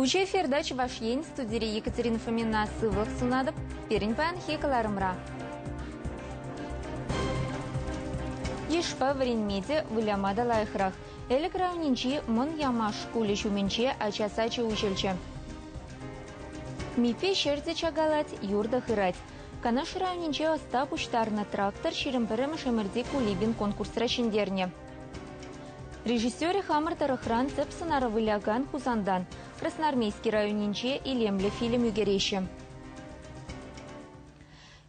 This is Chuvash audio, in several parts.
Уҫӑ эфирта Чӑваш Ен студири Екатерина Фомина сывлӑх сунатӑп пирӗн паянхи кӑларӑмра. Йышпа вӗренме те, выляма та лайӑхрах. Элӗк районӗнчи Мӑн Ямаш шкулӗ ҫумӗнче ача сачӗ уҫӑлчӗ. Митя ҫӗр те чакалать, юр та хырать. Канаш районӗнче ӑста пуҫтарнӑ «Трактор» ҫирӗм пӗрремӗш ӗмӗрти Кулибин конкурсра ҫӗнтернӗ. Режиссерӗ хамӑр тӑрӑхран тӗп сӑнара вылякан Хусантан, Красноармейски районӗнче илемлӗ фильм ӳкереҫҫӗ.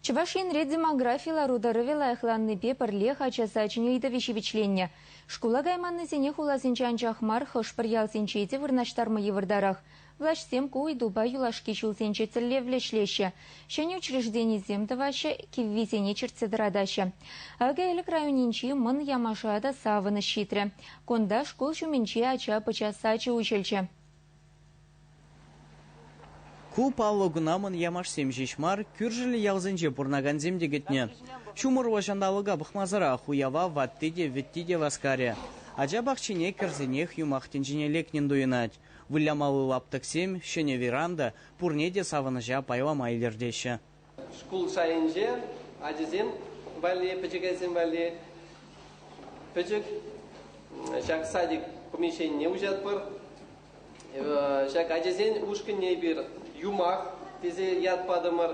Чӑваш Енре демографи лару-тӑрӑвӗ лайӑхланнипе пӗрлех ача сачӗн ыйтӑвӗ ҫивӗчленнӗ. Шкула кайманнисене хуласенче анчах мар, хӑш-пӗр ялсенче те вырнаҫтарма йывӑртарах. Влаҫсем ку ыйтупа юлашки ҫулсенче тӗллевлӗ ӗҫлеҫҫӗ, ҫӗнӗ учрежденисем тӑваҫҫӗ, киввисене чӗртсе тӑратаҫҫӗ. Акӑ Элӗк районӗнчи Мӑн Ямаша та савӑнӑҫ ҫитрӗ. Кунта шкул ҫумӗнче ача-пӑча сачӗ уҫӑлчӗ. Ку паллӑ куна Мӑн Ямашсем ҫеҫ мар, кӳршӗллӗ ялсенче пурӑнакансем те кӗтнӗ. Ҫумӑрлӑ ҫанталӑка пӑхмасӑрах уява ватти те, вӗтти те васкарӗ. Ача пахчине кӗрсенех юмах тӗнчине лекнӗн туйӑнать. Вылямалли лаптӑксем, ҫӗнӗ веранда, пурне те савӑнӑҫа пайлама илӗртеҫҫӗ. Шкул шайӗнче ачасем валли, пӗчӗкӗсем валли пӗчӗк ҫак садик помещенине уҫатпӑр. Ҫак ачасен ушкӑнне эпир Юмах тесе ят патӑмӑр.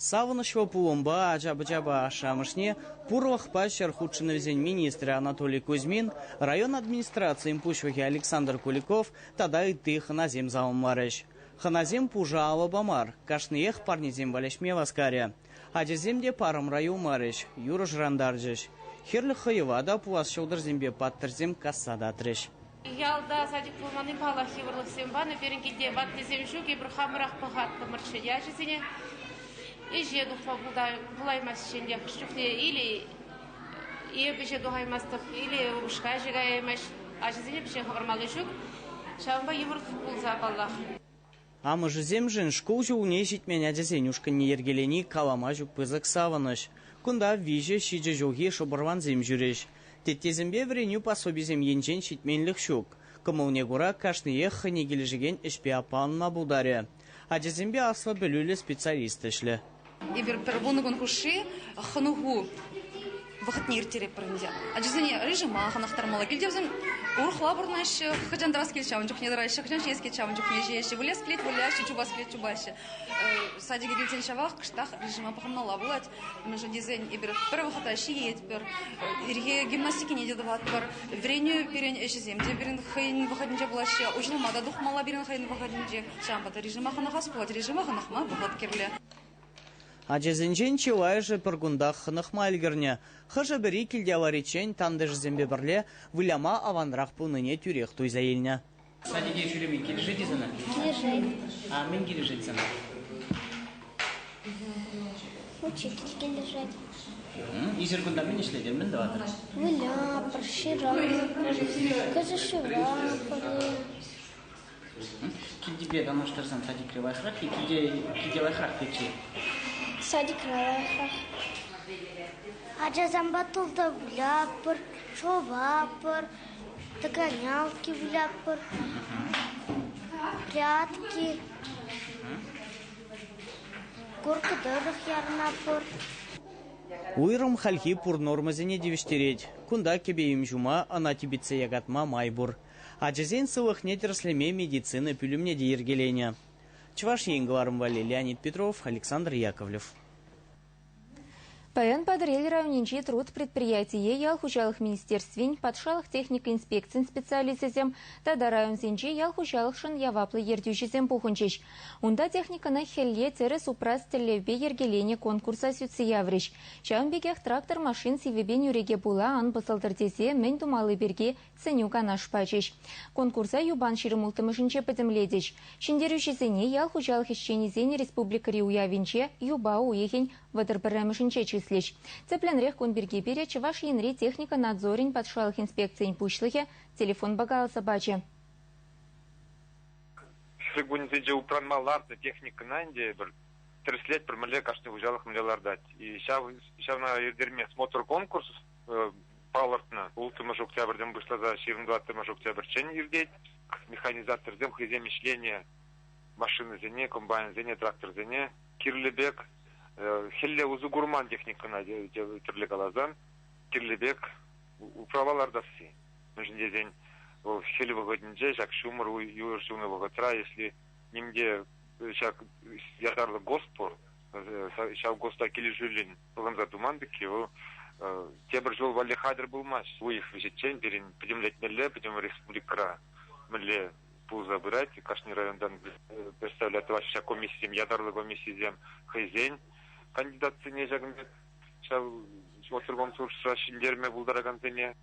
Савӑнӑҫлӑ пулӑмпа ача-пӑчапа ашшӗ-амӑшне пурлӑхпа ҫӗр хутшӑнӑвӗсен министрӗ Анатолий Кузьмин, район администрацийӗн пуҫлӑхӗ Александр Куликов тата ытти хӑнасем саламларӗҫ. Хӑнасем пушӑ алӑпа мар, кашниех парнесемпе леҫме васкарӗ. Ачасем те парӑмра юлмарӗҫ, юрӑ шӑрантарчӗҫ. Хӗрлӗ хӑйӑва та пулас ҫӑлтӑрсемпе паттӑрсем касса татрӗҫ. Ялта садик пулманни паллах йывӑрлӑхсем панӑ. Пирӗн килте ваттисем ҫук. Эпир хамӑрах пӑхаттӑмӑрччӗ ячӗсене. Ӗҫе тухма пулаймасть ӗнтӗ. Хӑш чухне или эп ӗҫе тухаймастӑп, или упӑшка ӗҫе каяймасть. Ачасене пӗҫе хӑвармалли ҫук. Ҫавӑнпа йывӑр пулса, паллах. Амӑшӗсемшӗн шкул ҫулне ҫитмен ачасен ушкӑнне йӗркелени калама ҫук пысӑк савӑнӑҫ. Кунта виҫӗ, ҫичӗ ҫулхи шӑпӑрвансем ҫӳрӗҫ. Теттесемпе вӗренӳ пособисем енчен ҫитменлӗх ҫук. Кӑмӑлне кура кашниех хӑйне килӗшекен ӗҫпе аппа ӑнма пултарӗ. Ачасемпе аслӑ пӗлӳллӗ специалист ӗҫлӗ. Эпир пӗр вунӑ кун хушши хӑнӑху вӑхӑтне ирттеретпӗр ӗнтӗ. Ачасене режима хӑнӑхтармалла. Килте вӗсем урӑхла пурӑнаҫҫӗ, хӑҫан тӑрас килет ҫавӑн чухне тӑраҫҫӗ, хӑҫан ҫиес килет ҫавӑн чухне ҫиеҫҫӗ, вылес килет выляҫҫӗ, чупас килет чупаҫҫӗ. Садике килсен ҫавах кӑштах режима пӑхӑнмалла пулать, мӗншӗн тесен эпир пӗр вӑхӑта ҫиетпӗр, ирхи гимнастикине те тӑватпӑр, вӗренӳ пирӗн ӗҫӗсем те пирӗн хӑйӗн вӑхӑтӗнче пулаҫҫӗ, уҫӑлма та тухмалла пирӗн хӑйӗн вӑхӑтӗнче. Ҫавӑнпа та режима хӑнӑхас пулать. Режима хӑнӑхма вӑхӑт кирлӗ. Ачасенчен чылайӑшӗ пӗр кунтах хӑнӑхма ӗлкӗрнӗ. Хӑшӗ-пӗри килте авариччен тантӑшӗсемпе пӗрле выляма аванрах пулнине тӳрех туйса илнӗ. Садике ҫӳреме килӗшет-и сана? Килӗшет. А мӗн килӗшет сана? Лучше килӗшет. Ӳсӗр кунта мӗн ӗҫлетӗн? Мӗн тӑватӑр? Вылятпӑр, ҫыратпӑр, кӑшӑ шыратпӑр. Килтипе танлаштарсан садикре лайӑхрах-и, килте, килте лайӑхрах пекши? Садикре лайӑхрах. Ачасемпе тылда вылятпӑр, шӑватпӑр, тӑканялки вылятпӑр, прятки, горка тӑрӑх ярӑнатпӑр. Уйрӑм хальхи пур нормӑсене тивӗҫтерет. Кунта кӗпе-им ҫума, ӑна типӗтсе якатма май пур. Ачасен сывлӑхне тӗрӗслеме медицина пӳлӗмне те йӗркеленӗ Чӑваш Ен кӑларӑм валли Леонид Петров, Александр Яковлев. Паян Патӑрьел районӗнчи Труд предприятие ял хуҫалӑх министерствин, патшалӑх техника инспекцин специалисчӗсем тата районсенчи ял хуҫалӑхшӑн яваплӑ ертӳҫӗсем пухӑнчӗҫ. Унта техникӑна хӗлле тӗрӗс упрас тӗллевпе йӗркеленӗ конкурса сӳтсе яврӗҫ. Ҫавӑн пекех трактор машин сивӗпе нӳреке пула ан пӑсӑлтӑр тесе мӗн тумалли пирки сӗнӳ-канаш пачӗҫ. Конкурса юпан ҫирӗм улттӑмӗшӗнче пӗтӗмлетӗҫ. Ҫӗнтерӳҫӗсене ял хуҫалӑх ӗҫченӗсен республикӑри уявӗнче юпа уйӑхӗн вӑтӑр пӗрремӗшӗнче чыслӗҫ. Тӗплӗнрех кун пирки пире Чӑваш Енри техника надзорӗн патшалӑх инспекцийӗн пуҫлӑхӗ телефонпа каласа пачӗ. Ҫӗр кунӗсенче упранма лартнӑ техникӑна ӗнтӗ эпир тӗрӗслетпӗр, мӗнле кашни хуҫалӑх мӗнле лартать. И ҫав, ҫавна ирттерме смотр конкурс палӑртнӑ. Улттӑмӗш октябрьтен пуҫласа ҫырӑн октябрьччен иртет. Механизаторсем хӑйсем ӗҫленӗ машинӑсене, комбайнсене, тракторсене кирлӗ пек хӗлле усӑ курман техникӑна тӗрлӗ каласан кирлӗ пек управа лартасси. Мӗншӗн тесен вӑл хӗл вӑхӑтӗнче ҫак ҫумӑр юр ҫунӑ вӑхӑтра, если нимте ҫак ятарлӑ госпор ҫав госта килӗшӳллӗн ывӑнса туман пекки вӑл тепӗр ҫул валли хатӗр пулмасть. Уйӑх вӗҫӗччен пирӗн пӗтӗмлетмелле пӗтӗм республикӑра мӗнле пулса пырать. Кашни районтан представлять тӑваҫҫӗ ҫак комиссисем, ятарлӑ комиссисем хӑйсен кандидатсене ҫакӑн пек ҫав отторгонсурсра ҫӗнтерме пултаракансене.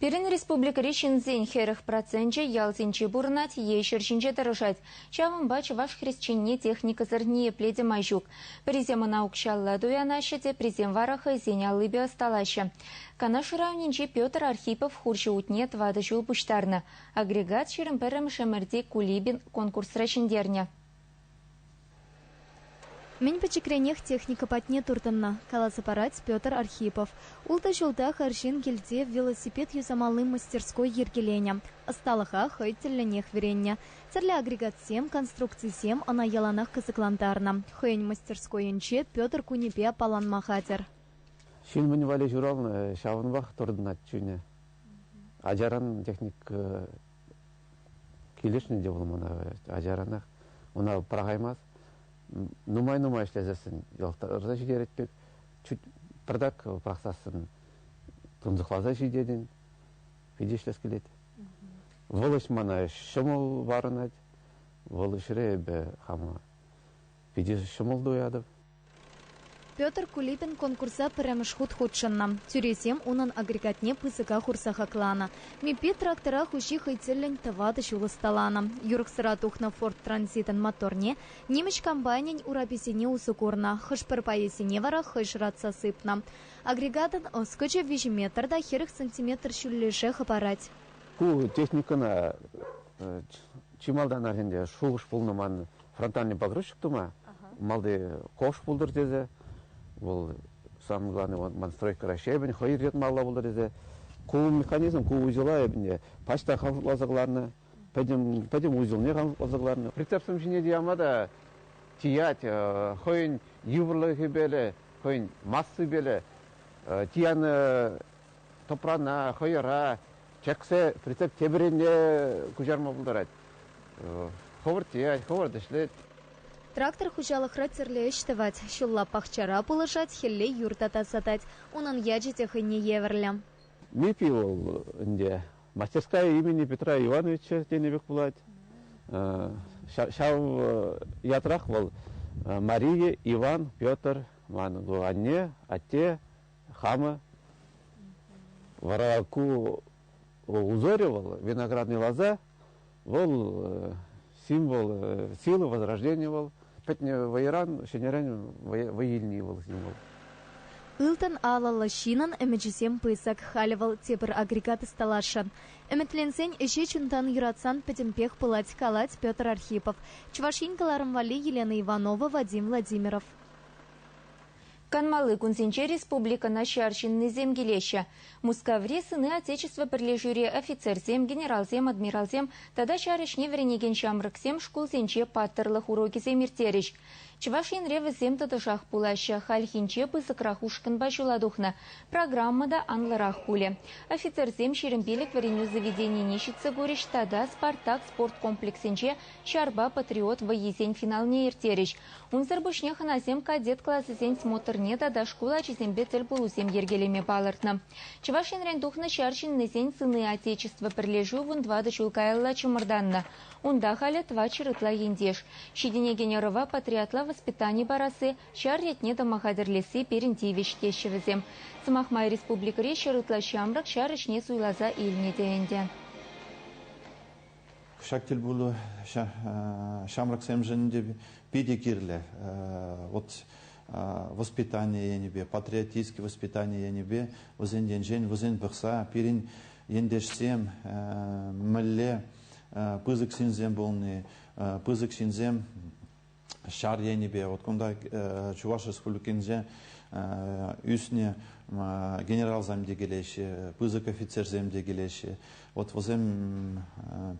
Пирӗн республикӑри ҫынсен хӗрӗх проценчӗ ялсенче пурӑнать е ҫӗр ҫинче тӑрӑшать. Ҫавӑнпа чӑваш хресченне техникӑсӑр ниепле те май ҫук. Пӗрисем ӑна укҫалла туянаҫҫӗ те, присем вара хӑйсен аллипе ӑсталаҫҫӗ. Канаш районӗнчи Петр Архипов хурҫӑ утне тӑватӑ ҫул пуҫтарнӑ. Агрегат ҫирӗм пӗрремӗш ӗмӗрти Кулибин конкурсра ҫӗнтернӗ. Мӗн пӗчӗкренех техника патне туртӑннӑ, каласа парать Петр Архипов. Ултӑ ҫултах арҫын килте велосипед юсамалли мастерской йӗркеленӗ. Ӑсталӑха хӑй тӗллӗнех вӗреннӗ. Тӗрлӗ агрегатсем, конструкцисем ӑна яланах кӑсӑклантарнӑ. Хӑйӗн мастерскойӗнче Петр кунӗпе аппаланма хатӗр. Ҫын мӗн валли ҫуралнӑ, ҫавӑнпах туртӑнать чунӗ. Ачаран техника Килӗшнӗ те вӑл мана, ачаранах. Ӑна пӑрахаймасть. Нумай-нумай ӗҫлесессӗн йӑлтарса ҫитерет пек, чуть пӗртак пӑхсассӑн тунсӑхласа ҫитетӗн, питӗ ӗҫлес килет. Вӑл ӗҫ мана ҫӑмӑл парӑнать. Вӑл ӗҫре эпӗ хама питӗ ҫӑмӑл туятӑп. Петр Кулибин конкурса пӗрремӗш хут хутшӑннӑ. Тӳресем унӑн агрегатне пысӑка хурса хакланӑ. МИПИ трактора хуҫи хӑй тӗллӗн тӑватӑ ҫул ӑсталанӑ. Юрӑхсӑра тухнӑ Ford Транзитӑн моторне нимӗҫ комбайнӗн ураписене усӑ курнӑ, хӑш-пӗр пайӗсене вара хӑй шӑратса сыпнӑ. Агрегатӑн ӑскӑчӗ виҫӗ метр та хӗрӗх сантиметр ҫӳллӗше хӑпарать. Ку техникӑна чи малтанах ӗнтӗ шухӑш пулнӑ ман, фронтальный погрузчик тума, малти кош пултӑр тесе, вӑл самое главное, ман стройка Раҫҫейӗн хӑй йӑтмалла пултӑр тесе, ку механизм, ку узела эпне почта хавшукласа кӑларнӑ, пӗтӗм, пӗтӗм узелне хавшукласа кӑларнӑ. Прицепсем ҫине тиама та тиять, хӑйӗн йывӑрлӑхӗпеле, хӑйӗн массипеле тиянӑ тӑпрана, хӑйӑра чӗксе прицеп тепӗррине куҫарма пултарать. Хӑвӑрт тиять, хӑвӑрт ӗҫлет. Трактор хуҫалӑхра тӗрлӗ ӗҫ тӑвать. Ҫулла пахчара пулӑшать, хӗлле юр та тасатать. Унӑн ячӗ те хӑйне евӗрлӗ. МИПИ вӑл ӗнтӗ. Мастерская имени Петра Ивановича тенӗ пек пулать. Ҫав ятрах вӑл Мария Иван Петр, ман анне, атте, Хама вара ку узорӗ вӑл, виноградный лоза, вӑл символ силы возрождения вӑл. Пӗтнӗ вӑйран, ҫӗнӗрен вӑй илни вӑл символ. Ылтӑн алӑллӑ ҫынӑн ӗмӗчӗсем пысӑк, халӗ вӑл тепӗр агрегат ӑсталасшӑн. Ӗмӗтленсен ӗҫе чунтан юратсан пӗтӗмпех пулать, калать Петр Архипов, Чӑваш Ен кӑларӑм валли Елена Иванова, Вадим Владимиров. Канмалли кунсенче республикӑна ҫар ҫыннисем килеҫҫӗ. Мускаври Сыны Отечества пӗрлешӳри офицерсем, генералсем, адмиралсем тата ҫар ӗҫне вӗренекен ҫамрӑксем шкулсенче паттӑрлӑх урокӗсем ирттерӗҫ. Чӑваш Енре вӗсем тӑтӑшах пулаҫҫӗ. Хальхинче пысӑкрах ушкӑнпа ҫула тухнӑ. Программа та анлӑрах пулӗ. Офицерсем ҫирӗм пилӗк вӗренӳ заведенине ҫитсе курӗҫ тата Спартак спорт комплексӗнче Ҫарпа Патриот вӑййисен финалне ирттерӗҫ. Унсӑр пуҫне хӑнасем кадет класӗсен смотрне тата шкул ачисемпе тӗлпулусем йӗркелеме палӑртнӑ. Чӑваш Енрен тухнӑ ҫар ҫыннисен Сыны Отечества пӗрлешӳ вун тӑватӑ ҫул каялла чӑмӑртаннӑ. Унта халӗ тӑватҫӗр ытла ентеш. Ҫитӗнекен ӑрӑва патриотла воспитани парасси, ҫар ретне тӑма хатӗрлесси пирӗн тивӗҫ, теҫҫӗ вӗсем. Сӑмах май, республикӑри ҫӗр ытла ҫамрӑк ҫар ӗҫне суйласа илнӗ те ӗнтӗ. Ҫак тӗлпулу ҫамрӑксемшӗн те питӗ кирлӗ. Вот воспитание енӗпе, патриотическое воспитание енӗпе вӗсен енчен вӗсен пӑхса пирӗн ентешсем мӗнле пысӑк ҫынсем пулни, пысӑк ҫынсем ҫар енӗпе вот кунта Чуваш Республикинче ӳснӗ генералсем те килеҫҫӗ, пысӑк офицерсем те килеҫҫӗ. Вот вӗсем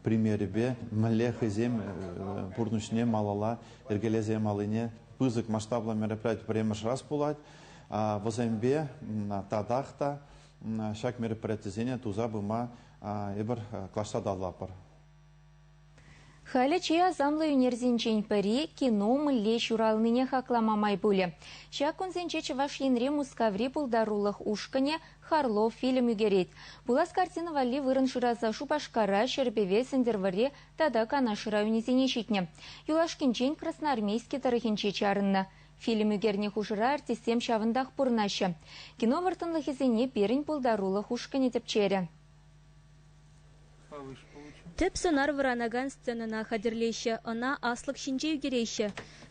примерӗпе мӗнле хӑйсем пурнӑҫне малалла йӗркелесе малине пысӑк масштаблӑ мероприяти пӗрремӗш раз пулать. Вӗсемпе татах та ҫак мероприятисене туса пыма эпир клаша та аллапӑр. Халӗ чи асамлӑ ӳнерсенчен пӗри кино мӗнле ҫуралнине хаклама май пулӗ. Ҫак кунсенче Чӑваш Енри Мускаври пултарулӑх ушкӑнӗ «Харлов» фильм ӳкерет. Пулас картина валли вырӑн шыраса Шупашкара, Ҫӗрпӗве, Сӗнтӗрвӑрри тата Канаш районӗсене ҫитнӗ. Юлашкинчен Красноармейски тӑрӑхӗнче чарӑннӑ. Фильм ӳкернӗ хушӑра артистсем ҫавӑнтах пурӑнаҫҫӗ. Кино вӑрттӑнлӑхӗсене пирӗн пултарулӑх ушкӑнӗ тӗпчерӗ. Тӗп сӑнар вӑранакан сценӑна хатӗрлеҫҫӗ, ӑна аслӑк ҫинче ӳкереҫҫӗ.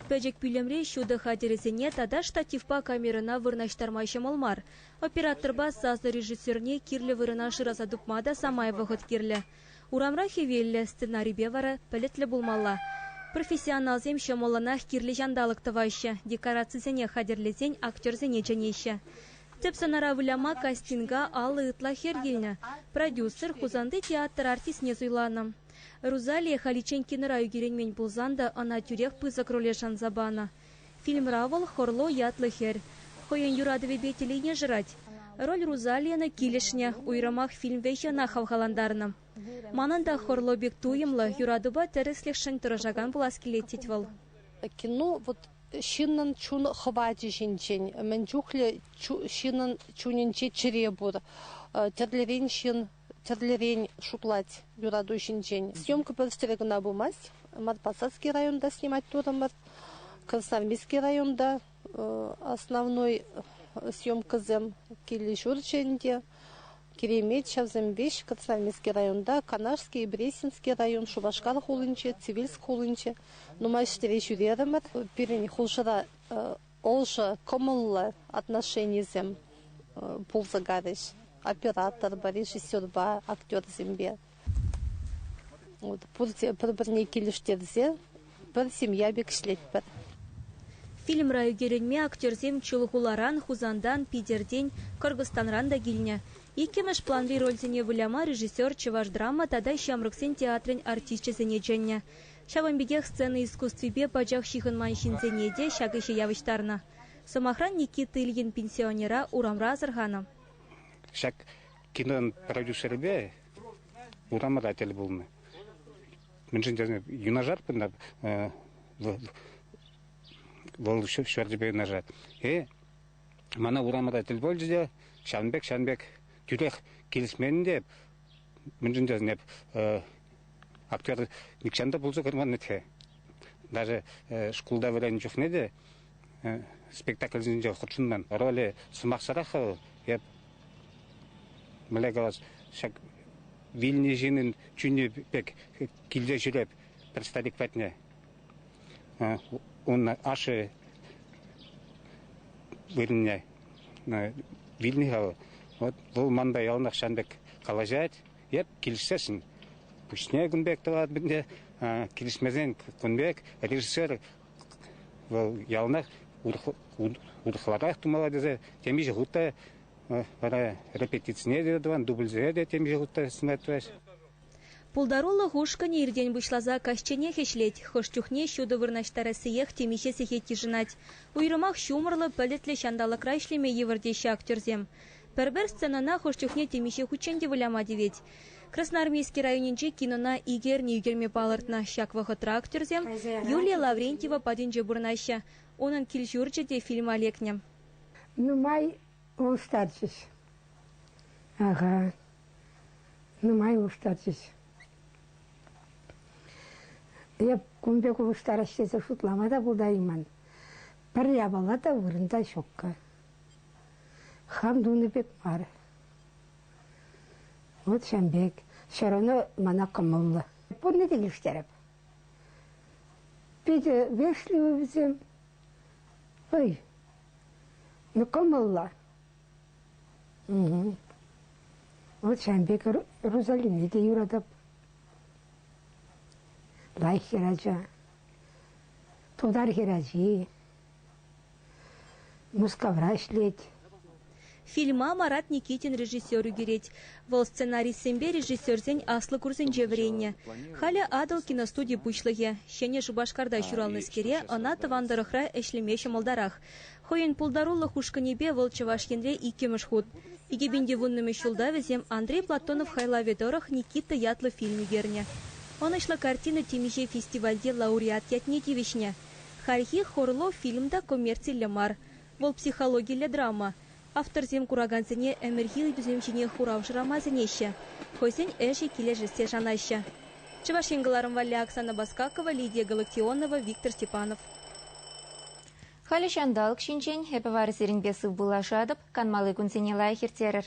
Пӗчӗк пӳлӗмре ҫутӑ хатӗрӗсене тата штативпа камерӑна вырнаҫтарма ҫӑмӑл мар. Операторпа сасӑрежиссерне кирлӗ вырӑна шыраса тупма та самай вӑхӑт кирлӗ. Урамра хӗвеллӗ, сценарипе вара пӗлӗтлӗ пулмалла. Профессионалсем ҫӑмӑллӑнах кирлӗ ҫанталӑк тӑваҫҫӗ, декорацисене хатӗрлесен актерсене чӗнеҫҫӗ. Тӗп сӑнара выляма кастинга алӑ ытла хӗр килнӗ. Продюсер Хусанти театр артистне суйланӑ. Рузалия Халиченкинӑра ӳкерӗнмен пулсан та ӑна тӳрех пысӑк роле шанса панӑ. Фильмра вӑл Хорло ятлӑ хӗр хӑйӗн юратӑвӗпе телейне шырать. Роль Рузалияна килӗшнӗ, уйрӑмах фильм вӗҫӗ ӑна хавхалантарнӑ. Манӑн та хӑрлӑ пек туйӑмлӑ, юратупа тӗрӗслӗхшӗн тӑрӑшакан пулас килет, тет вӑл. Кино вот ҫыннӑн чун хӑвачӗ ҫинчен, мӗн чухлӗ ҫыннӑн чунӗнче чӗре пур. Тӗрлӗрен ҫын тӗрлӗрен шутлать юрату ҫинчен. Съемка пӗрстере кӑна пымасть. Морпосадский районта снимать турӑмӑр. Красноармейски районта Основной съемкӑсем киле ҫурчӗ ӗнтӗ. Киремет ҫавсем веҫ Красноармейски районта, Канашский, Бресинский район, Шупашкар хулинче, Цивильск хулинче нумай ҫӗре ҫӳрерӗмӗр. Пирӗн хушӑра ӑшӑ, кӑмӑллӑ отношенисем пулса карӗҫ операторпа, режиссерпа, актерсемпе. Пурте пӗр-пӗрне килӗштерсе пӗр семья пек ӗҫлетпӗр. Фильмра ӳкерӗнме актерсем Чулхуларан, Хусантан, Питертен, Кӑркӑстанран та килнӗ. Иккӗмӗш планри рольсене выляма режиссер чӑваш драма тата ҫамрӑксен театрӗн артисчӗсене чӗннӗ. Ҫавӑн пекех сцена искусствипе пачах ҫыхӑнман ҫынсене те ҫак ӗҫе явӑҫтарнӑ. Сӑмахран, Никита Ильин пенсионера урамра асӑрханӑ. Ҫак Кинон продюсерӗпе урамра тӗл пулнӑ. Мӗншӗн тесен юнашар пынӑ вӑл, вӑл ҫӗртӗпе юнашар. Э, мана урамра тӗл пулчӗ те ҫавӑн пек, ҫавӑн пек тӳрех килӗшмен те, мӗншӗн тесен эп актер нихҫан та пулса курманнӑ-тхе. Даже шкулта вӗреннӗ чухне те спектакльсенче хутшӑннӑ. Роли сӑмахсӑрах вӑл. Эп Мӗнле калас, ҫак вилнӗ ҫыннӑн чунӗ пек килсе ҫӳреп пӗр старик патне. Ун ашшӗ вырӑнне вилнӗ-ха вӑл. Вот вӑл манпа яланах ҫан пек калаҫать. Эп килӗшсессӗн пуҫне кун пек тӑватӑп ӗнтӗ. Килӗшмесен кун пек режиссер Вӑл яланах урӑхларах тумалла тесе темиҫе хут та вара репетицине те тӑван, дубльсене те темиҫе хут та сӑнать тӑваҫ. Пултарулӑх ушкӑнӗ иртен пуҫласа каҫченех ӗҫлет. Хӑш чухне ҫутӑ вырнаҫтарассиех темиҫе сехет йышӑнать. Уйрӑмах ҫумӑрлӑ, пӗлӗтлӗ ҫанталӑкра ӗҫлеме йывӑр теҫҫӗ актерсем. Пӗр-пӗр сценӑна хӑш чухне темиҫе хутчен те выляма тивет. Красноармейски районӗнче кинона икӗ эрне ӳкерме палӑртнӑ. Ҫак вӑхӑтра актерсем Юлия Лаврентьева патӗнче пурӑнаҫҫӗ. Унӑн кил-ҫурчӗ те фильма лекнӗ. Нумай улӑштарчӗҫ. Ага. Нумай улӑштарчӗҫ. Эп кун пек улӑштарас тесе шутлама та пултарайман. Пӗр япала та, вырӑн та ҫукка. Хам тунӑ пек мар. Вот ҫавӑн пек. Ҫӗр ӑна мана кӑмӑллӑ. Пурне те ӳстереп. Питӗ вешлӗ вӗсем. Ой, ну кӑмӑллӑ. Угу. Вот ҫавӑн пек Рузалине те юратӑп. Лайӑх хӗрача. Тутар хӗрачи. Мускавра ӗҫлет. Фильма Марат Никитин режиссер ӳкерет. Вӑл сценаристсемпе режиссерсен аслӑ курсӗнче вӗреннӗ. Халӗ Атӑл киностуди пуҫлӑхӗ. Ҫӗнӗ Шупашкарта ҫуралнӑскере ӑна тӑван тӑрӑхра ӗҫлеме ҫӑмӑлтарах. Хӑйӗн пултарулӑх ушкӑнӗпе вӑл Чӑваш Енре иккӗмӗш хут. Икӗпинче вуннӑмӗш ҫулта вӗсем Андрей Платонов хайлавӗ тӑрӑх Никита ятлӑ фильм ӳкернӗ. Ӑнӑҫлӑ картина темиҫе фестивальте лауреат ятне тивӗҫнӗ. Хальхи Хорло фильм та коммерциллӗ мар, вӑл психологиллӗ драма. Авторсем куракансене ӗмӗрхи ыйтусем ҫине хурав шырама сӗнеҫҫӗ, хӑйсен ӗҫӗ килӗшессе шанаҫҫӗ. Чӑваш Ен кӑларӑм валли Оксана Баскакова, Лидия Галыктионова, Виктор Степанов. Халӗ ҫанталӑк ҫинчен эпӗ вара сирӗнпе сывпуллашатӑп, канмалли кунсене лайӑх ирттерӗр.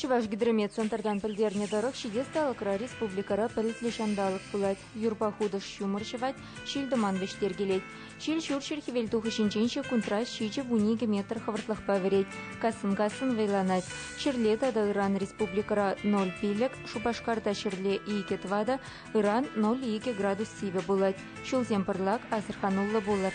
Чӑвашгидромет центртан пӗлтернӗ тӑрӑх, ҫитес талӑкра республикӑра пӗлӗтлӗ ҫанталӑк пулать. Юрпа хутӑш ҫумӑр ҫӑвать, ҫил-тӑман вӗҫтеркелет. Ҫил ҫурҫӗр хӗвелтухӑҫӗнчен ҫеккунтра ҫичӗ вун икӗ метр хӑвӑртлӑхпа вӗрет, кассӑн-кассӑн вӑйланать. Ҫӗрле тата ыран республикӑра ноль пилӗк, Шупашкарта ҫӗрле икӗ тӑватӑ, ыран ноль икӗ градус сивӗ пулать. Ҫулсем пӑрлак, асӑрхануллӑ пулӑр.